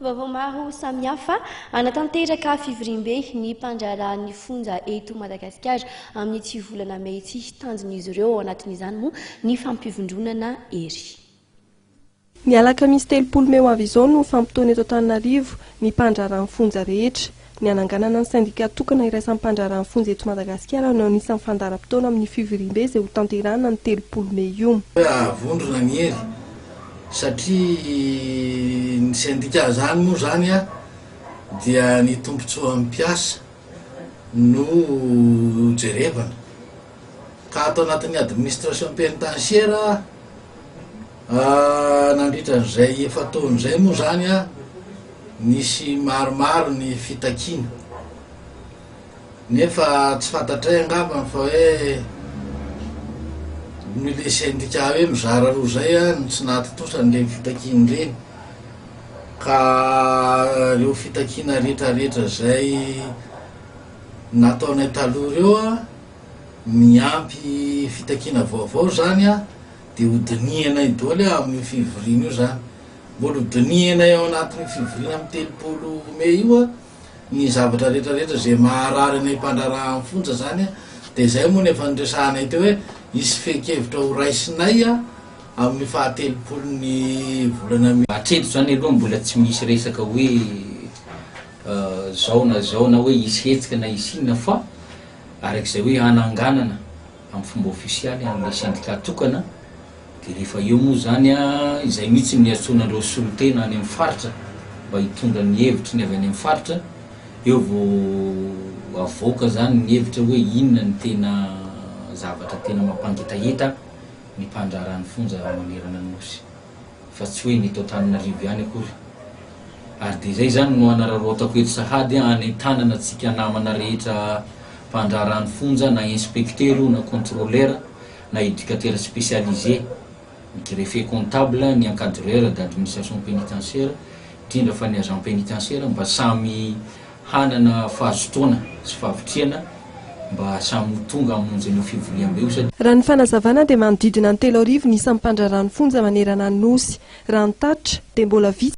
Vaovao maro samihafa, Hanatanteraka fivoriambe ny mpandraharaha ny fonja eto Madagasikara amin'ity volana mey ity. Tanjon'izy ireo ao anatin'izany moa ny fampivondronana hery. Ny alakamisy telopolo mey ho avy izao no fampitaony eto Antananarivo ny mpandraharaha ny fonja rehetra. Ny hananganana ny sendika tokana iraisam-pandraharaha ny fonja eto Madagasikara no anisan'ny fandaharam-potoana amin'ny fivoriambe izay ho tanterahina ny telopolo mey io. Hahavondrona ny hery satria ny sendika izany moa izany dia ny tombontsoan'ny mpiasa no jerevana ka ato anatin'ny administration penitentiaire Nandritra an'izay efa-taona izay moa izany, nisy maromaro ny fitakiana, nefa tsy fantatray angambany fa hoe noho ilay sendika hoe mizara roa izay no tsy nahatontosa an'ireny fitakiana ireny. Ka ireo fitakiana rehetrarehetra izay nataonay taloha ireo, niampy fitakiana vaovao izany. Dia hodinihanay doly ao amin'io fivoriana io izany. Mbola hodinihanay ao anatin'io fivoriana amin'ny telopolo mey io ny zavatra rehetra rehetra izay maharary anay mpandraharaha amin'ny fonja izany. Dia izay moa no efa noresahanay teo hoe hisy fehin-kevitra horaisinay amin'ny fahatelopolon'ny volana mey. Hatreto izany aloha mbola tsy misy resaka hoe izao na izao na hoe hisy hetsika na hisy inona fa araka izay hoe hananganana. amin'ny fomba ofisialy an'ilay sendika tokana, dia rehefa eo moa izany izay mihitsy no hiantsoana an'ireo solontena any amin'ny faritra mba hitondra ny hevitry ny avy any amin'ny faritra, eo vao havoaka izany ny hevitra hoe inona ny tena zavatra tena mampangetaheta ny mpandraharaha ny fonja raha manerana ny Nosy. fa tsy hoe ny eto Antananarivo ihany akory. Ary dia izay izany no hanararaotako eto sahady hanentanana antsika namana rehetra mpandraharaha ny fonja na inspecteur io na contrôleur na éducateur spécialisé, ny greffier comptable, ny encadreur d'administration pénitentiaire, indrindra fa ny agent pénitentiaire mba samy hanana fahazotoana sy fahavitrihana mba samy ho tonga hamonjy an'io fivoriambe io satria. Raha ny fanazavana dia manodidina ny telo arivo ny isan'ny mpandraharaha ny fonja manerana ny Nosy. Raha ny tatitra dia mbola vitsy.